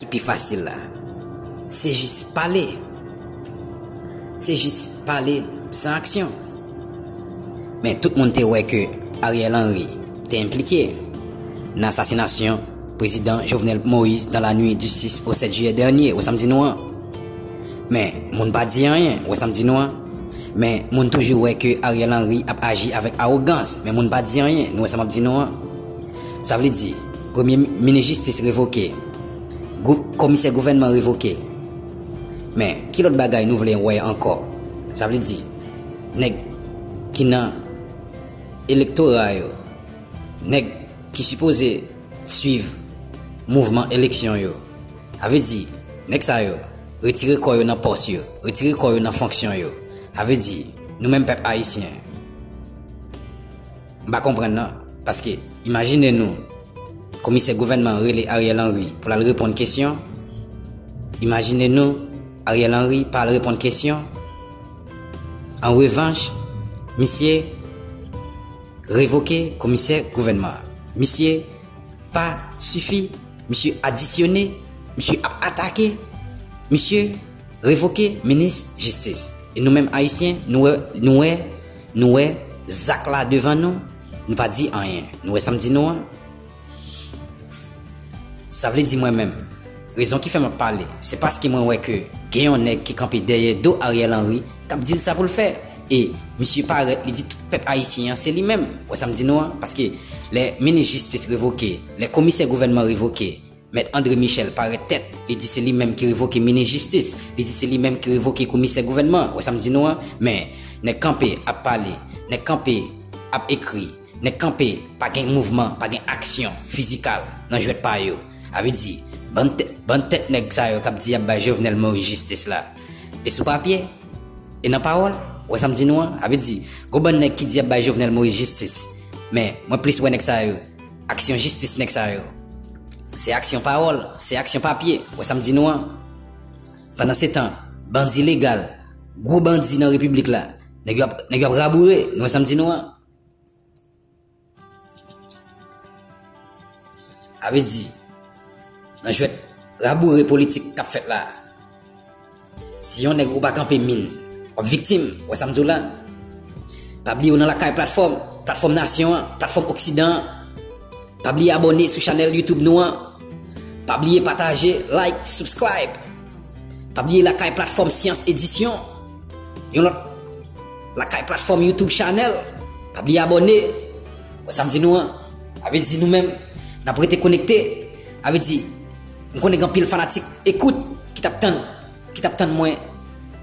Ki pi fasil la. Se jis pale. Se jis pale san aksyon. Men tout moun te wè ke Ariel Henry te enplike nan asasinasyon Prezidan Jovenel Moïse dans la nuit du 6 au 7 juillet dernier, wè sa m di nou an. Men moun pa di anyen, wè sa m di nou an. Men moun toujou wè ke Ariel Henry ap aji avèk awogans, men moun pa di anyen, nou wè sa m ap di nou an. Sa vle di, premye minis jistis revoke, komisè gouvènman revoke. Men, ki lòt bagay nou vle wè ankò? Sa vle di, nèg ki nan elektora yo, nèg ki sipoze swiv mouvman eleksyon yo, sa vle di, nèg sa yo, retire kò yo nan pòs yo, retire kò yo nan fonksyon yo. Sa vle di, nou menm pèp ayisyen. M pa konprann nan, paske imajine nou komisè gouvènman an rele Ariel Henry pou l al reponn kesyon, imajine nou Ariel Henry pa al reponn kesyon, an revanch misye revoke komisè gouvènman an. Misye pa sifi, misye adisyone, misye ap atake, misye revoke minis jistis. E nou menm ayisyen nou wè Nou wè zak la devan nou, nou pa di anyen. Nou wè sa m di nou an? Sa vle di mwen menm, rezon ki fè m ap pale, se paske mwen wè ke gen yon nèg ki kanpe dèyè do Ariel Henry k ap di l sa pou l fè. E misye parèt li di tout pèp ayisyen an se li menm. Ou wè sa m di nou an? Paske lè minis jistis revoke, lè komisè gouvènman revoke, Mèt André Michel parèt tèt, li di se li menm ki revoke minis jistis, li di se li menm ki revoke komisè gouvènman, wè sa m di nou an? Men, nèg kanpe ap pale, nèg kanpe ap ekri, nèg kanpe pa gen mouvman, pa gen aksyon fizikal nan jwèt pa yo. A vle di, bann tèt, bann tèt nèg sa yo k ap di y ap bay Jovenel Moïse jistis la, e sou papye, e nan pawòl, wè sa m di nou an? A vle di, gon bann nèg ki di y ap bay Jovenel Moïse jistis, men mwen plis wè nèg sa yo, Aksyon jistis nèg sa yo. Se aksyon pawòl, se aksyon papye, wè sa m di nou an. Pandansetan, bandi legal, gwo bandi nan repiblik la, nèg yo ap, nèg yo ap raboure, nou wè sa m di nou an. Sa vle di, nan jwèt raboure politik k ap fèt la a, Si yon nèg ou pa kanpe min, wap viktim, wè sam diw la? Pa bliye ou nan lakay platfòm, platfòm nasyon an, platfòm oksidan an. Pa bliye abòne sou chanèl YouTube nou an. Pa bliye pataje, like, subscribe. Pa bliye lakay platfòm Syans Edisyon. Yon lòt lakay platfòm YouTube chanèl. Pa bliye abòne. Wè sam di nou an? Avedi nou menm, nap rete konekte. Avedi. M konnen gen anpil fanatik ekout ki tap tann ki tap tann mwen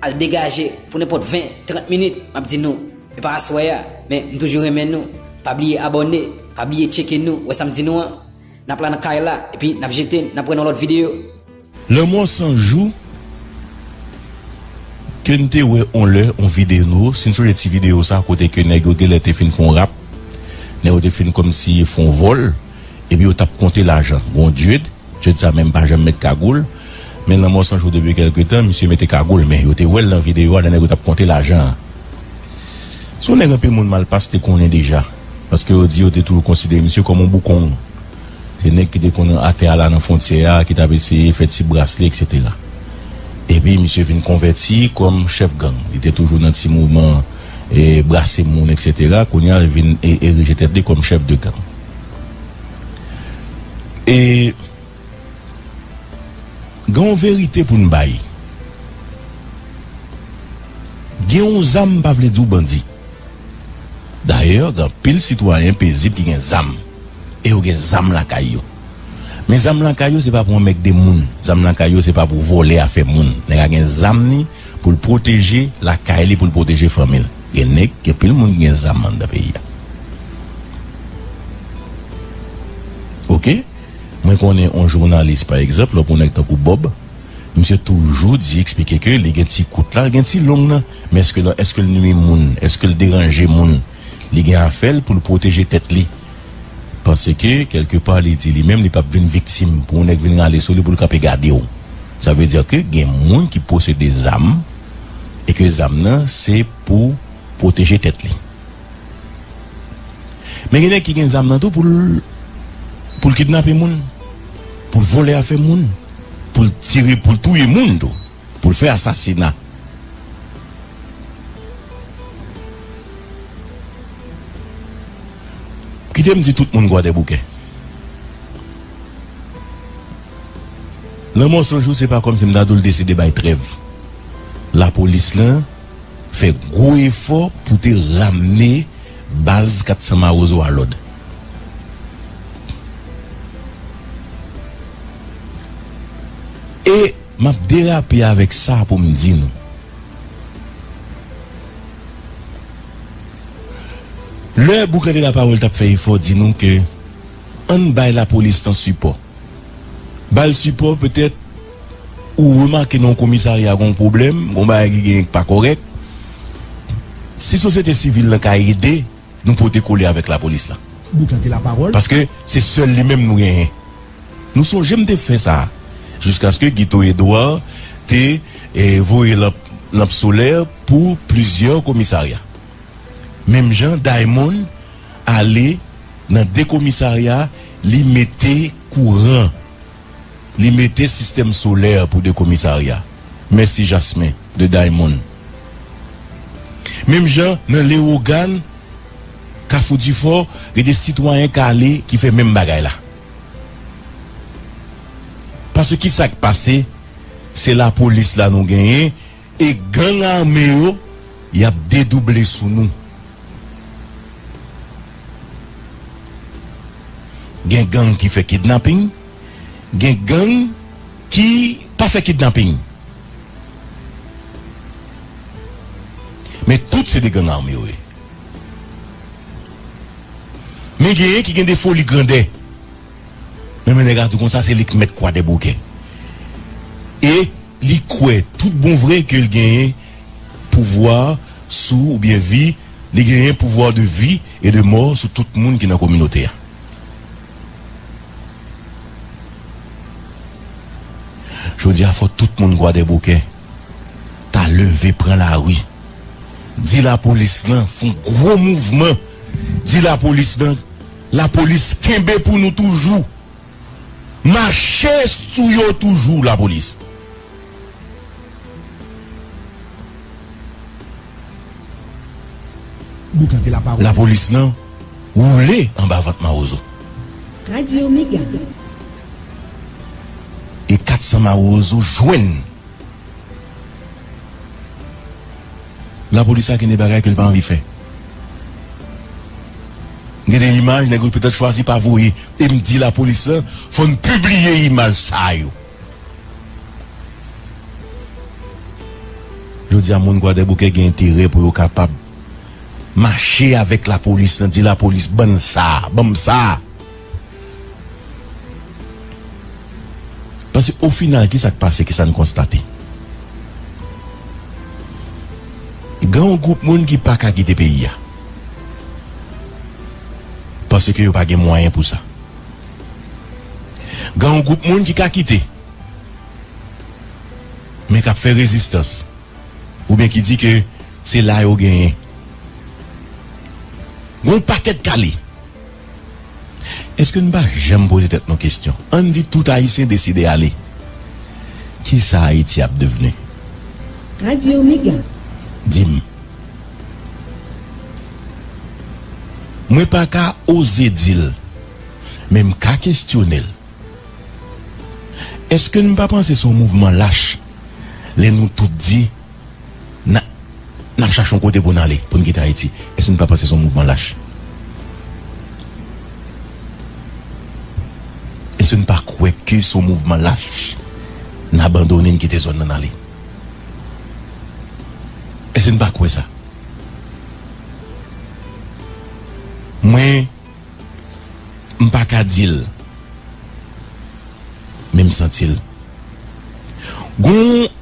al degaje pou nenpòt 20, 30 minit map di nou e pa aswè a men m toujou renmen nou pa bliye abòne pa bliye tcheke nou wè sam di nou an nap la nan kay la epi nap jete nap wè nan lòt videyo. Lanmò san jou ke n te wè on lè on videno si n sonje ti videyo sa kote ke nèg yo genlè te fin fon rap nèg yo te fin kòmsi fon vòl Epi yo tap konte lajan Gon Jude, Jude sa menm pa janm met kagoul Men lanmò san jou depi kèlke tan misye mete kagoul men yo te wèl nan videyo a lè nèg yo tap konte lajan an Se yon nèg anpil moun Malpass te konnen deja paske yo di yo te toujou konsidere misye kòm yon boukong Se nèg ki te konn atè a la nan fontyè a ki tap eseye fè ti bras li eksetera Epi misye vin konvèti kòm chèf gang li te toujou nan ti mouvman brase moun eksetera Kounye a li vin erije tèt li kòm chèf de gang. E gen yon verite pou n bay, gen yon zam pa vle di w bandi. Dayè, gen anpil sitwayen pezib ki gen zam e yo gen zam lakay yo. Men zam lakay yo se pa pou anmègde moun, zam lakay yo se pa pou vòlè afè moun. Nèg la gen zam li pou l pwoteje lakay li, pou l pwoteje fanmi l. Gen neg gen pil moun ki gen zam andan peyi a ok mwen konnen on jounalis pa egzanp lè pou neg tankou bob misye toujou di eksplike ke li gen ti kout la gen ti long nan men eske nan eskel nwi moun eskel deranje moun li gen afèl poul pwoteje tèt li paske kelke pa li di li menm li pap vin viktim pou on neg vin rale sou li poul kanpe gadew sa vle di ke gen moun ki posede zam. e ke zam nan se pou pwoteje tèt li. Men gen nèg ki gen zam nan tou pou l pou l kidnape moun, pou l vòlè afè moun, pou l tire, pou l touye moun tou, pou l fè asasina. Kite m di tout moun Kwadèboukè. Lanmò San Jou se pa kòmsi m ta di w l deside bay trèv. Lapolis lan fè gwo efò pou te ramne baz 400 Mawozo a lòd. E m ap derape avèk sa pou m di nou, lè Boucante Laparole t ap fè efò di nou ke ann bay Lapolis lan sipò, Bal sipò petèt ou remake nan yon komisarya gon pwoblèm gon bagay ki genyen ki pa kòrèk si sosyete sivil lan ka ede nou pote kole avèk lapolis lan paske se sèl li menm nou genyen nou sonje m te fè sa jiskaske Guito Edouard te voye lanp solè pou plizyè komisarya. menm jan Diamond ale nan 2 komisarya li mete kouran li mete sistèm solè pou 2 komisarya mèsi jasmin de Diamond menm jan nan lewogan kafou difò gen 2 sitwayen k ale ki fè menm bagay la pase kisak pase se lapolis la nou genyen. E gang armé yo yap dedouble sou nou. Gen gang ki fè kidnapping, gen gang ki pa fè kidnapping. Men tout se de gang armé yo ye. Men genyen ki gen de foli grandè. Men men nèg a tou konsa se li k mèt kwa dèboukè. E. Li kwè tout bon vre ke l genyen pouvwa sou oubyen vi, li genyen pouvoir de vie et de mort sou tout moun ki nan kominote a. Jodi a fò tout moun Kwadèboukè ta leve pran lari, di lapolis lan fon gwo mouvman, di lapolis lan lapolis kenbe pou nou toujou. Mache sou yo toujou la police. La police lan woule anba vant mawozo. Radio mega. E 400 mawozo jwenn. La police la gen de bagay ke l pa anvi fè. Gen de imaj nèg yo petèt chwazi pa voye e m di lapolis lan fò n pibliye imaj sa yo. Jodi a moun Kwadèboukè gen enterè pou yo kapab mache avèk lapolis lan, di lapolis ban n sa, ban m sa. Paske ofinal ki sa k pase, ki sa n konstate? Gen yon gwoup moun ki pa ka kite peyi a paske yo pa gen mwayen pou sa. Gen yon gwoup moun ki ka kite men k ap fè rezistans oubyen ki di ke se la yo genyen. Gen yon pakèt kale. Eske nou pa janm poze tèt nou kestyon, ann di tout Ayisyen deside ale, ki sa Ayiti ap devni? Radye Omega, di m. Mwen pa ka oze di l, men m ka kestyone l. Eske n pa panse se yon mouvman lach lè nou tout di N ap chache yon kote pou n ale, pou n kite Ayiti. Èske nou ka panse se yon mouvman lach? Èske n pa kwè ke se yon mouvman lach? N abandone, n kite zòn nan, n ale? Èske n pa kwè sa? Mwen, m pa ka di l. Men m santi l. Gon.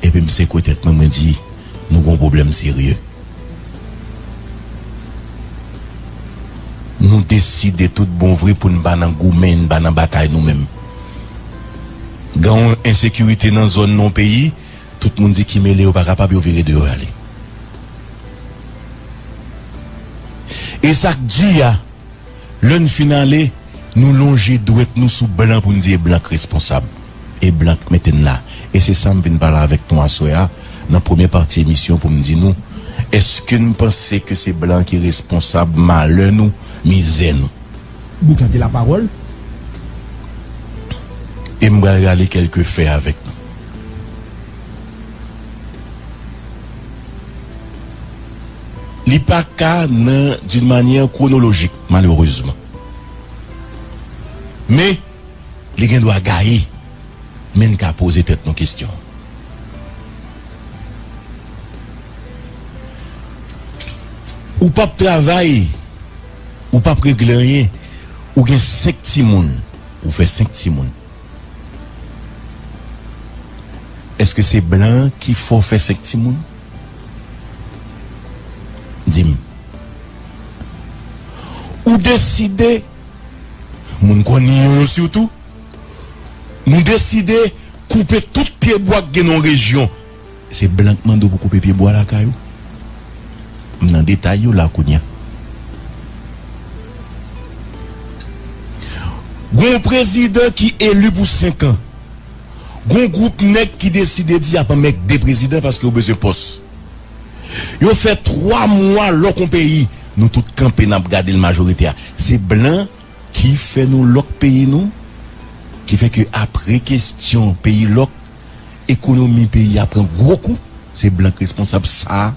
epi m sekwe tèt mwen, mwen di, Nou gen yon pwoblèm serye. Nou deside tout bon vre pou n pa nan goumen, n pa nan batay nou menm. Gen yon ensekirite nan zòn, nan yon peyi, tout moun di ki mele yo pa kapab, yo vire do yo ale. E sa k di a. Lè n fin ale, nou lonje dwèt nou sou blan pou n di e blan k responsab, e blan k mete n la. E se sa m vin pale avèk nou aswè a nan premye pati emisyon pou m di nou, èske n panse ke se blan ki responsab malè nou, mizè nou? Boukante lapawòl. E m pral rale kèlke fè avèk nou. Li pa ka nan d'une manière chronologique malheureusement. Men, li gen dwa gaye, men n ka poze tèt nou kesyon an. Ou p ap travay, ou p ap regle anyen, ou gen senk timoun, ou fè senk timoun. Èske se blan ki fè w fè senk timoun? Di m. Ou deside, moun kò Niyon yo sitou, nou deside koupe tout pyebwa k gen nan yon rejyon. Se blan k mande w pou koupe pyebwa lakay ou? M nan detay yo la kounye a. Gen yon prezidan ki eli pou senkan. Gon gwoup nèg ki deside di yap anmègde prezidan paske yo bezwen pòs. Yo fè 3 mwa lòk on peyi, nou tout kanpe nap gadel majorite a se blan ki fè nou lòk peyi nou ki fè ke apre kestyon peyi lòk ekonomi peyi a pran gwo kou se blan k responsab sa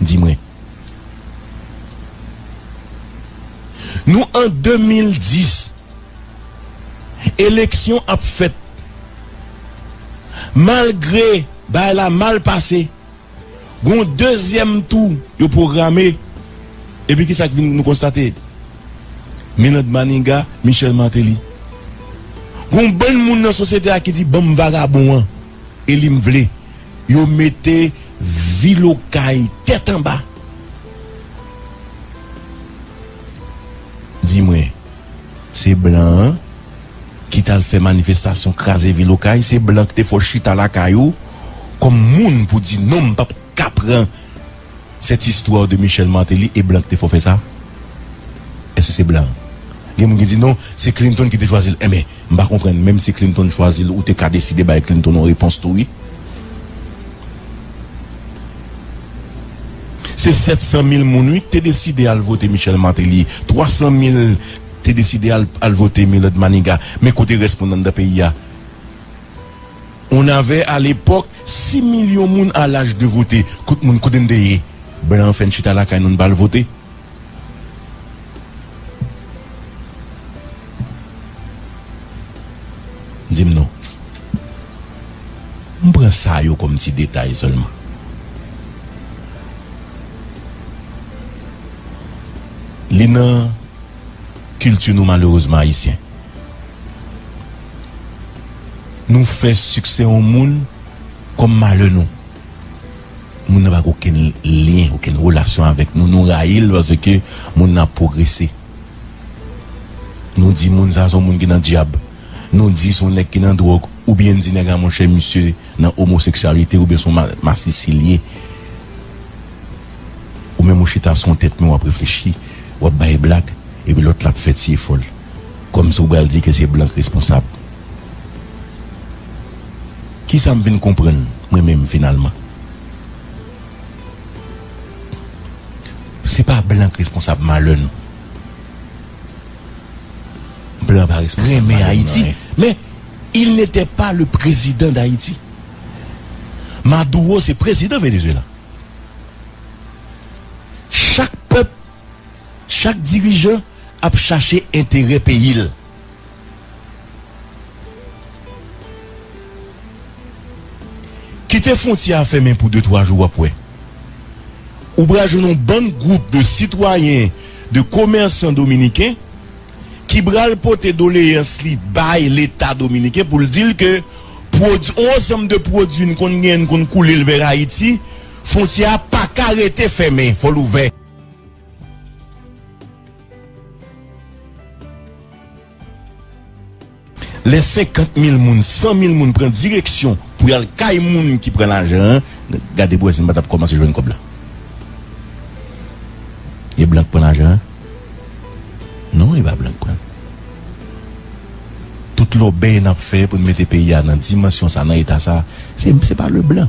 di mwen nou an 2010. Eleksyon ap fèt malgre bagay la mal pase gon dezyèm tou yo pwograme epi kisa k vin nou konstate Milande Maniga Michel Martelly gon bann moun nan sosyete a ki di banm vagabon an eli m vle yo mete vil okay tèt anba di mwen. Se blan an ki tal fè manifestasyon kraze vil okay se blan ki te fè w chita lakay ou kòm moun pou di non m pap ka pran cette histoire de Michel Martelly e blan ki te fè w fè sa èske se blan gen moun ki di non se Clinton ki te chwazi l enben M pa konprann menm si Clinton chwazi l ou te ka deside bay Clinton yon repons tou wi. Se 700 mil moun wi k te deside al vote Michel Martelly, 300 mil te deside al al vote Millard Maniga men kote rès moun anndan peyi a? On avait à l'époque 6 millions moun a laj de vote kot moun kote n te ye? Blan an fè n chita lakay nou n pa al vote? Di m non. M pran sa yo kòm ti detay sèlman. Li nan kilti nou malerezman ayisyen. Nou fè siksè yon moun kòm malè nou. Moun nan pa gen okenn lyen, okenn relasyon avèk nou. Nou rayi l paske moun nan ap pwogrese. Nou di moun sa se yon moun ki nan dyab. Nou di se yon nèg ki nan dwòg. Oubyen n di nèg a monchè misye nan omoseksyalite oubyen se yon masisi l ye. Ou menm ou chita sou yon tèt men w ap reflechi, w ap bay blag epi lòt la ap fè ti efò l. Kòmsi ou bral di ke se blan k responsab. Kisa m vin konprann mwen menm finalman? Se pa blan k responsab malè nou. Blan pa responsab malè nou nan anyen. Men, il n'etè pa le prezidan dayiti. Maduro se prezidan Venezuela. Chak pèp. Chak dirijan ap chache enterè peyi l. Kite fwontyè a fèmen pou de twa jou w ap wè. Ou pral jwenn yon bann gwoup de sitwayen, de komèsan dominiken ki pral pote doleyans li bay leta dominiken pou l di l ke pwod yon ansanm de pwodui n konn genyen n konn koule l vè Ayiti, fwontyè a pa ka rete fèmen, fò l ouvè. Lè 50 mil moun, 100 mil moun pran direksyon pou y al kay moun ki pran lajan an, gade pou wè si n pa t ap kòmanse jwenn kòb la. E blan k pran lajan an? Non, e pa blan k pran l. Tout lòbèy n ap fè pou n mete peyi a nan dimansyon sa, nan eta sa, se pa Leblan.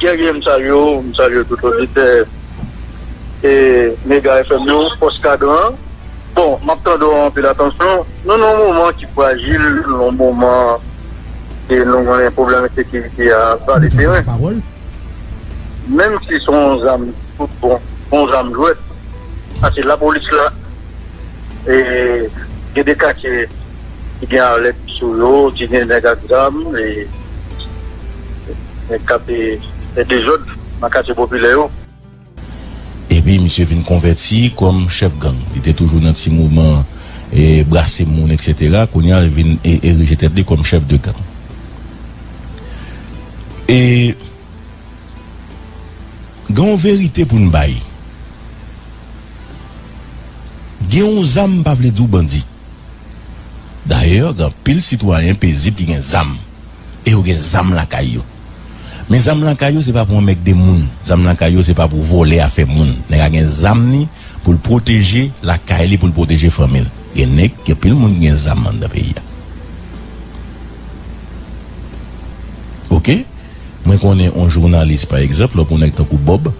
Byen gen m salye w, m salye tout oditè e mega FM yo, fòs kadran an bon map tande w anpil atansyon nou nan yon moman ki frajil yon moman e nou konnen pwoblèm ensekirite a vale teren menm si son w zam tout bon son w zam jwèt paske lapolis la e gen de katye. ki gen arlèt sou yo, ki gen nèg ak zam, nèg k ap fè dezòd nan katye popilè yo. Epi misye vin konvèti kòm chèf gang. Li te toujou nan ti mouvman brase moun eksetera, kounye a li vin erije tèt li kòm chèf de gang. E gen yon verite pou n bay, gen yon zam pa vle di w bandi. Dayè, gen anpil sitwayen pezib ki gen zam e yo gen zam lakay yo. Men zam lakay yo se pa pou anmègde moun, zam lakay yo se pa pou vòlè afè moun. Nèg a gen zam li pou l pwoteje lakay li, pou l pwoteje fanmi l. Gen nèg, gen anpil moun ki gen zam anndan peyi a. Oke, mwen konnen yon jounalis pa egzanp, lò pou nèg tankou Bòb.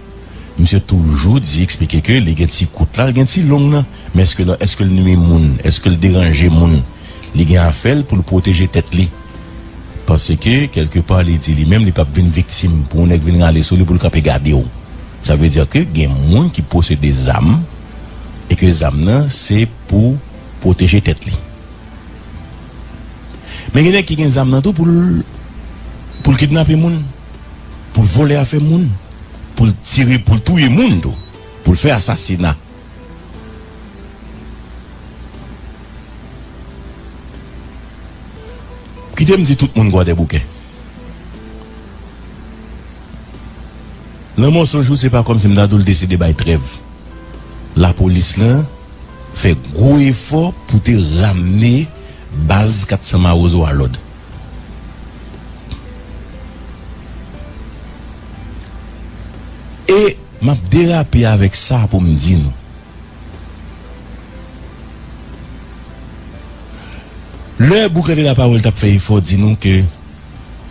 Misye toujou di eksplike ke li gen ti kout la, li gen ti long nan, men eske nan eske l nwi moun, eske l deranje moun? Li gen afè l pou l pwoteje tèt li. Paske kèlke pa li di li menm li p ap vin viktim pou yon nèg vin rale sou li pou l kanpe gade w. Sa vle di ke gen moun ki posede zam e ke zam nan se pou pwoteje tèt li. Men gen nèg ki gen zam nan tou pou l pou l kidnape moun. pou l vòlè afè moun, pou l tire, pou l touye moun tou, pou l fè asasina. Kite m di tout moun Kwadèboukè, lanmò san jou se pa kòmsi m ta di w l deside bay trèv. Lapolis la fè gwo efò pou te ramne baz 400 mawozo a lòd. E m ap derape avèk sa pou m di nou. Lè Boucante Laparole t ap fè efò di nou ke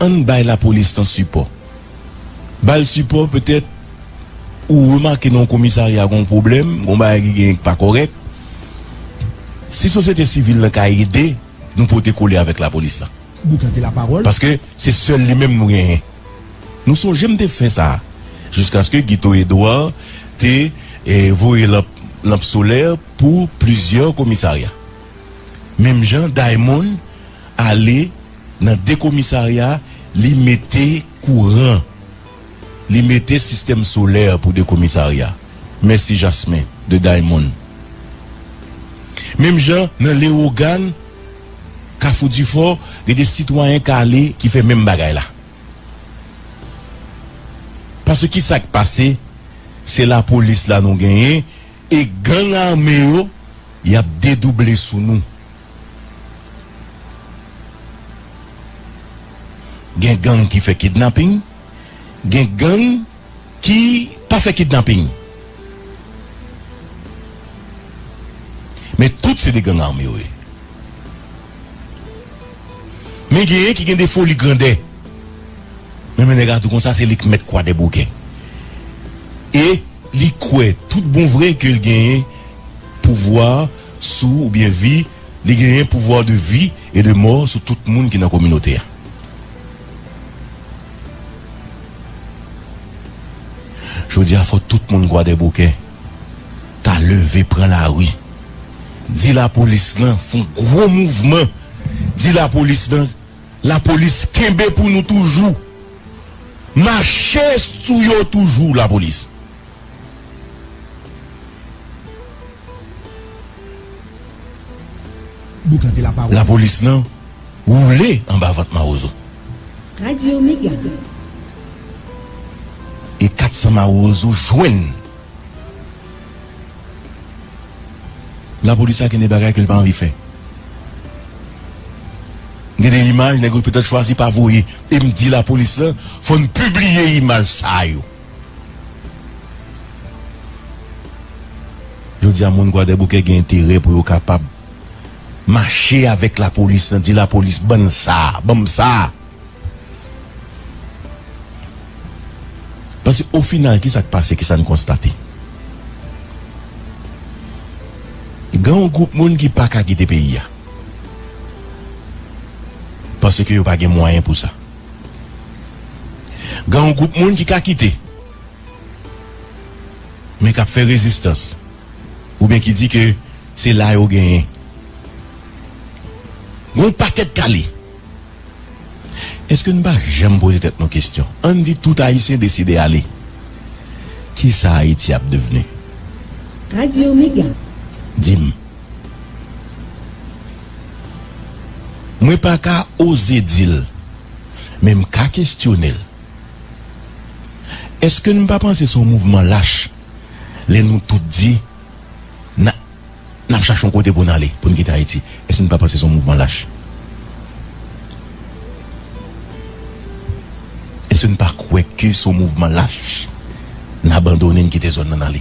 ann bay lapolis lan sipò, ba l sipò petèt ou remake nan yon komisarya gen yon pwoblèm, gen yon bagay ki genyen ki pa kòrèk, si sosyete sivil lan ka ede. Nou pote kole avèk lapolis la. Boukan te lapawòl. Paske se sèl li menm nou genyen. Nou sonje m te fè sa. Jiskaske Guito Edouard te voye lanp lanp solè pou plizyè komisarya. Menm jan Daymond ale nan 2 komisarya li mete kouran. Li mete sistèm solè pou 2 komisarya. Mèsi Jasmin de Diamond. Menm jan nan Lewogàn, Kafou Difò, gen 2 sitwayen kale ki fè menm bagay la. Paske ki sa k pase, se lapolis la nou genyen e gang ame yo y ap dedouble sou nou. Gen gang ki fè kidnaping, gen gang ki pa fè kidnaping. Men tout se de gang ame yo ye. Men genyen ki gen de foli grandè. Men men nèg a di konsa se li k mèt kwadèboukè. E li kwè tout bon vre ke l genyen pouvwa. sou oubyen vi, li genyen pouvoir de vie et de mort sou tout moun ki nan kominote a. Jodi a fò tout moun Kwadèboukè ta leve pran lari di lapolis lan fon gwo mouvman di lapolis lan lapolis kenbe pou nou toujou mache sou yo toujou lapolis. Lapolis lan woule anba vant mawozo. E 400 mawozo jwenn. Lapolis la gen de bagay ke li pa anvi fè. Gen de imaj nèg yo petèt chwazi pa voye. E m di lapolis lan fò n pibliye imaj sa yo. Jodi a moun Gwadèboukè gen enterè pou yo kapab mache avèk lapolis lan di lapolis bann sa, banm sa. Paske o final kisa k pase, kisa n konstate? Gen yon gwoup moun ki pa ka kite peyi a. Paske yo pa gen mwayen pou sa. Gen yon gwoup moun ki ka kite, men k ap fè rezistans, oubyen ki di ke se la yo genyen. Gen yon pakèt kale. Eske nou pa janm poze tèt nou kestyon, an n di tout Ayisyen deside ale, kisa Ayiti ap devni? Radio Mega. Di m. Mwen pa ka oze di l, men m ka kestyone l. Èske n pa panse se yon mouvman lach lè nou tout di n n ap chache yon kote pou n ale, pou n kite Ayiti? Èske n pa panse se yon mouvman lach? Èske n pa kwè ke se yon mouvman lach n abandone n kite zòn nan n ale?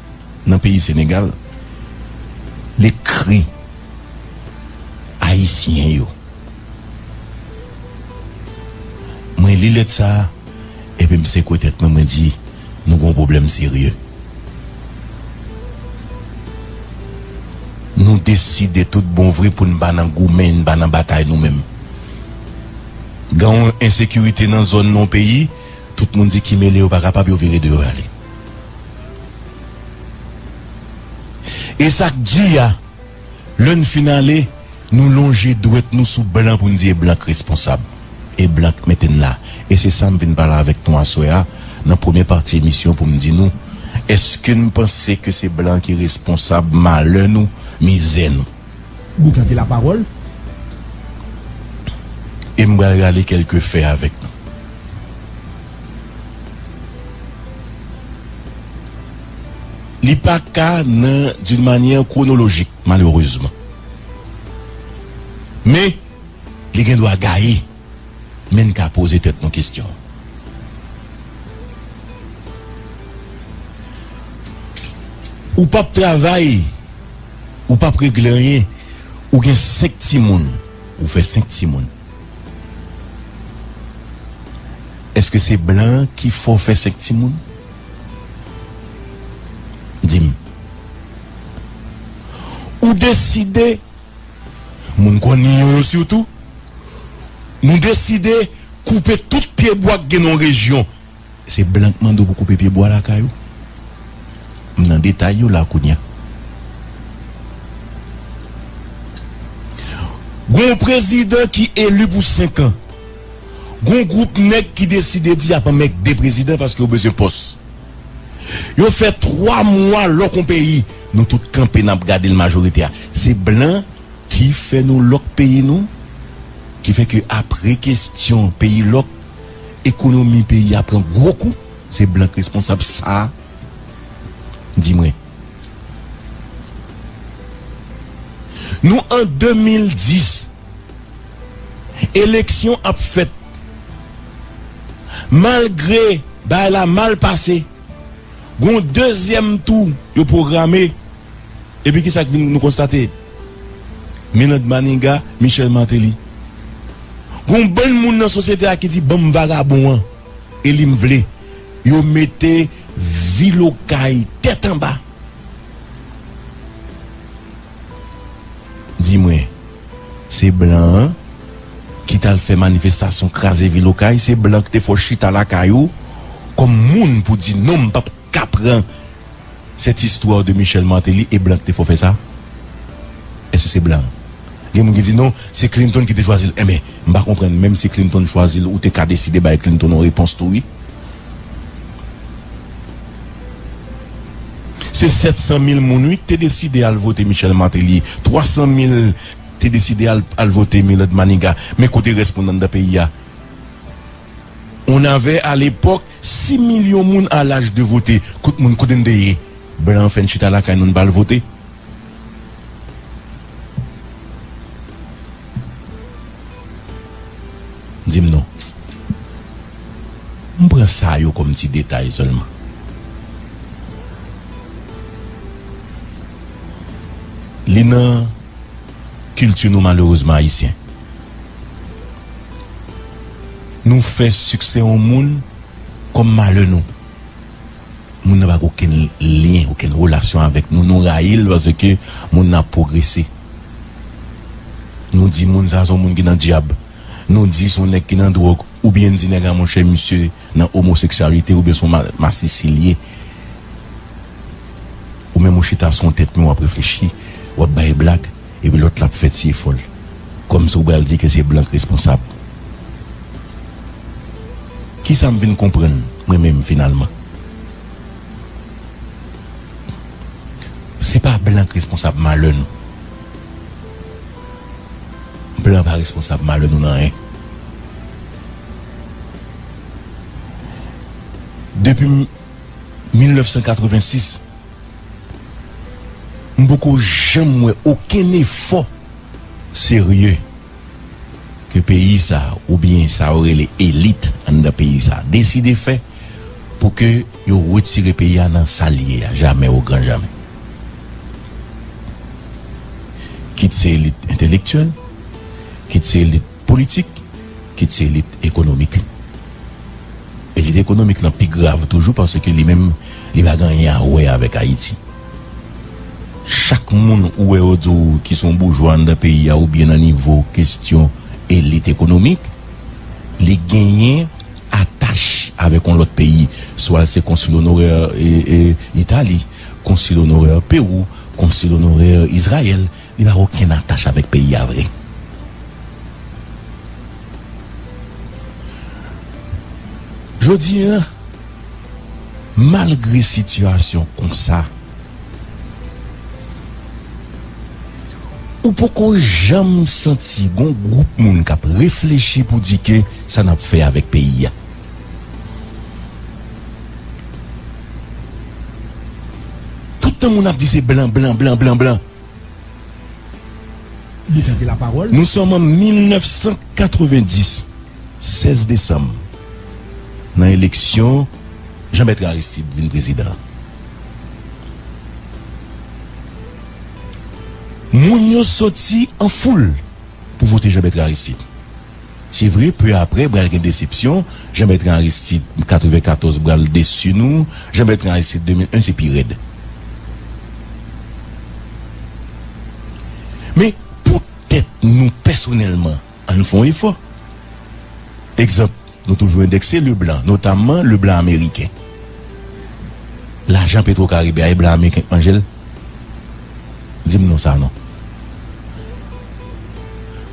nan peyi Senegal li kri ayisyen yo mwen li lèt sa epi m sekwe tèt mwen mwen di nou gon pwoblèm serye nou deside tout bon vre pou n pa nan goumen n pa nan batay nou menm gen yon ensekirite nan zòn nan yon peyi tout moun di ki mele yo pa kapab yo vire de yo ale. E sa k di a, lè n fin ale, nou lonje dwèt nou sou blan pou n di e blan k responsab, e blan k mete n la. E se sa m vin pale avèk nou aswè a nan premye pati emisyon pou m di nou, èske n panse ke se blan ki responsab malè nou, mizè nou? Bou tande la pawòl. E m pral rale kèlke fè avèk nou. Li pa ka nan d'une manière chronologique malheureusement. Men, li gen dwa gaye. Men n ka poze tèt nou kesyon. Ou p ap travay. Ou pap regle anyen ou gen 5 timoun ou fè 5 timoun eske se blan an ki fè w fè 5 timoun di m ou deside moun konnin yo yo sitou nou deside koupe tout pye bwa k gen nan yon rejyon. Se blan k mande w pou koupe pye bwa lakay ou? M nan detay yo la kounye a. Gon w prezidan ki eli pou 5 an. Gon gwoup nèg ki deside di y ap anmègde prezidan paske yo bezwen pòs. Yo fè 3 mwa lòk on peyi, nou tout kanpe n ap gade l majorite a. Se blan ki fè nou lòk peyi nou? Ki fè ke apre kestyon peyi lòk, ekonomi peyi a pran gwo kou se blan k responsab sa di mwen nou an 2010 eleksyon ap fèt malgre bagay la mal pase. Gon dezyèm tou yo pwograme epi kisa k vin nou konstate? Milande Maniga, Michel Martelly. Gon bann moun nan sosyete a ki di banm vagabon an eli m vle. Yo mete vil okay tèt anba. Di mwen, se blan an ki t al fè manifestasyon kraze vil Okay? Se blan ki te fè w chita lakay ou kòm moun pou di non m pap ka pran cette histoire de Michel Martelly e blan ki te fè w fè sa? Èske se blan? Gen moun ki di non, se Clinton ki te chwazi l. Enben, m pa konprann, menm si Clinton chwazi l ou te ka deside bay Clinton yon repons tou wi. Se 700 mil moun wi k te deside al vote Michel Martelly, 300 mil te deside al al vote Milord Maniga men kote rès moun anndan peyi a? On avait à l'époque 6 millions moun a l'âge de voter kot moun kote n te ye? Blan fè n chita lakay nou n pa al vote? Di m non. M pran sa yo kòm ti detay sèlman. Li nan kilti nou malerezman ayisyen. Nou fè siksè yon moun kòm malè nou. Moun nan pa gen okenn lyen, okenn relasyon avèk nou. Nou rayi l paske moun nan ap pwogrese. Nou di moun sa se yon moun ki nan dyab. Nou di se yon nèg ki nan dwòg. Oubyen n di nèg la monchè misye nan omoseksyalite oubyen se yon masisi l ye. Ou menm ou chita sou yon tèt mi w ap reflechi, w ap bay blag. Epi lòt la ap fè ti efò l. Kòmsi ou pral di ke se blan k responsab. Kisa m vin konprann mwen menm finalman? Se pa blan k responsab malè nou. Blan pa responsab malè nou nan anyen. Depi 1986. M poko janm wè okenn efò serye ke peyi sa oubyen sa yo rele elit anndan peyi sa deside fè pou ke yo retire peyi a nan sa l ye a jamè ogran jamè. Kit se elit entelektyèl, kit se elit. Politik, kit se elit ekonomik. Elit ekonomik lan pi grav toujou paske li menm li pa gen anyen a wè avèk Ayiti. Chak moun ou wè yo di w ki son boujwa anndan peyi a oubyen nan nivo kestyon elit ekonomik, li genyen atach avèk on lòt peyi. Swa se konsil onorè Itali, konsil onorè Pewou, konsil onorè Izrayèl. Li pa okenn atach avèk peyi a vre. Jodi an, malgre sitiyasyon konsa, ou poko janm santi gon gwoup moun k ap reflechi pou di ke sa n ap fè avèk peyi a. Tout tan moun ap di se blan, blan, blan, blan, blan. Nou sòm an 1990, 16 desanm, nan eleksyon Jean Bertrand Aristide vin prezidan. Moun yo soti an foul pou vote Jean Bertrand Aristide. Se vre peu après bral gen desepsyon, Jean Bertrand Aristide 94 bral desu nou, Jean Bertrand Aristide 2001 se pi rèd. Men pou tèt nou pèsonèlman an nou fè yon efò. Egzanp nou toujou endekse Leblanc, notamman Leblanc ameriken. Lajan Petro Caribe a e blan ameriken k manje l? Di m non sa non.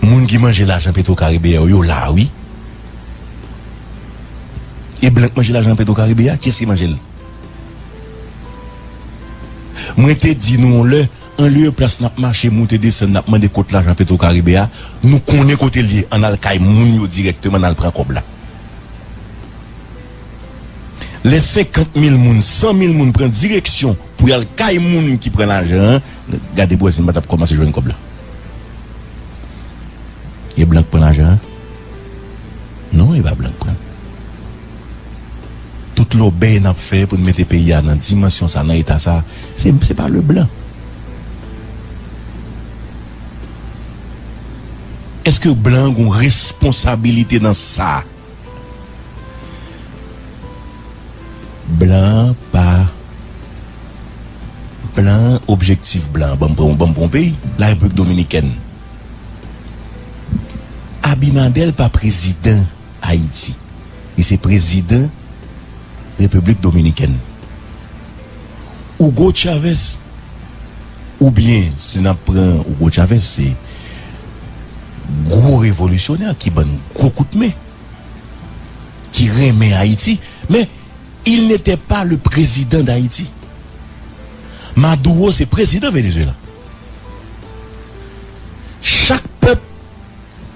Moun ki manje lajan petro karibe a yo la wi. E blan k manje lajan petro karibe a kiyès ki manje l. Mwen te di nou yon lè anlieu plas nap mache moute desann nap mande kot lajan petro karibe a nou konnen kote l ye an al kay moun yo dirèkteman nan al pran kòb la. Lè 50 mil moun, 100 mil moun pran direksyon pou y al kay moun ki pran lajan an, gade pou wè si n pa t ap kòmanse jwenn kòb la. E blan k pran lajan an? Non, e pa blan k pran l. Tout lòbèy n ap fè pou n mete peyi a nan dimansyon sa, nan eta sa, se pa Leblan. Èske blan an gen yon responsabilite nan sa? Blan an pa Blan an Objektif blan an Banm pran yon banm pou yon peyi La Repiblik Dominikèn Abinadèl pa prezidan Ayiti Li se prezidan Repiblik Dominikèn Ougo Chavèz Ou byen si nap pran Hugo Chavez se gwo revolisyonè ki bann gwo kout men, ki renmen Ayiti men il n'etè pa le prezidan d'Ayiti. Maduro se prezidan Venezuela. Chak pèp,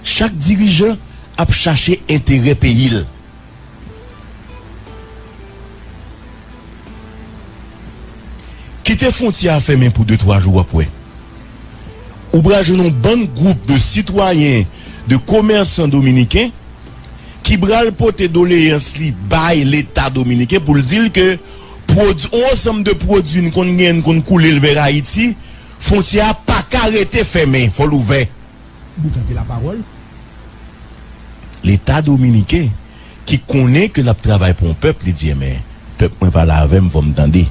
chak dirijan ap chache enterè peyi l. Kite fwontyè a fèmen pou de twa jou w ap wè. Ou pral jwenn yon bann gwoup de sitwayen, de komèsan dominiken ki pral pote doleyans li bay leta dominiken pou l di l ke pwod yon ansanm de pwodui n konn genyen n konn koule l vè Ayiti, fwontyè a pa ka rete fèmen, fò l ouvè. Boukante la pawòl leta dominiken ki konnen ke lap travay pou yon pèp li di enben pèp mwen pale avèm fòm tande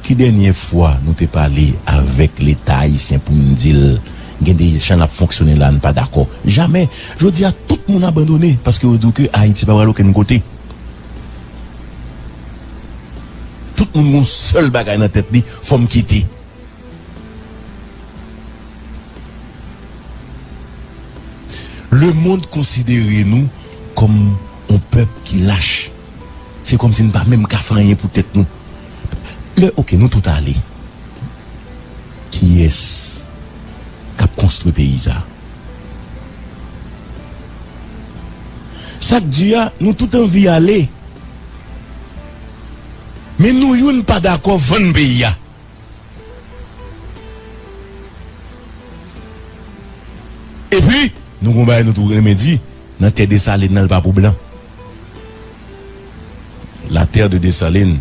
ki dènye fwa nou te pale avèk leta ayisyen poun dil gen de jan lap fonksyone la nou pa dakò jamè jodi a tout moun abandone paske yo diw ke ayiti pa pral okenn kote tout moun gon sèl bagay nan tèt li fòm kite. Le mond konsidere nou kòm on pèp ki lach. Se kòm si n pa menm ka fè anyen pou tèt nou. Lè ok nou tout ale, kiyès k ap konstwi peyi sa? Sa k di a, nou tout anvi ale, men nou youn pa dakò vann peyi a. Epi nou gon bagay nou tou renmen di nan tè Desalin nan li pa pou blan. La terre de Dessalines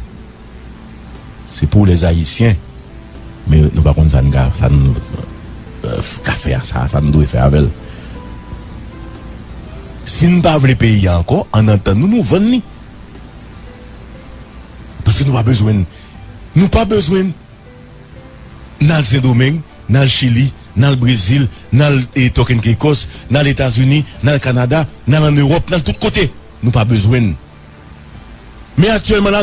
c'est pour les Haïtiens men nou pa konn sa n ka fè a sa, sa n dwe fè avè l. Si n pa vle peyi a ankò an antann nou nou vann li. Paske nou pa bezwen l. Nou pa bezwen l. N al Sendomeng, n al Chili, n al Brezil, n al Tòkenkenkòs, n al Etazini, n al Kanada, n al ann Ewòp, n al tout kote. Nou pa bezwen l. Men aktyèlman la.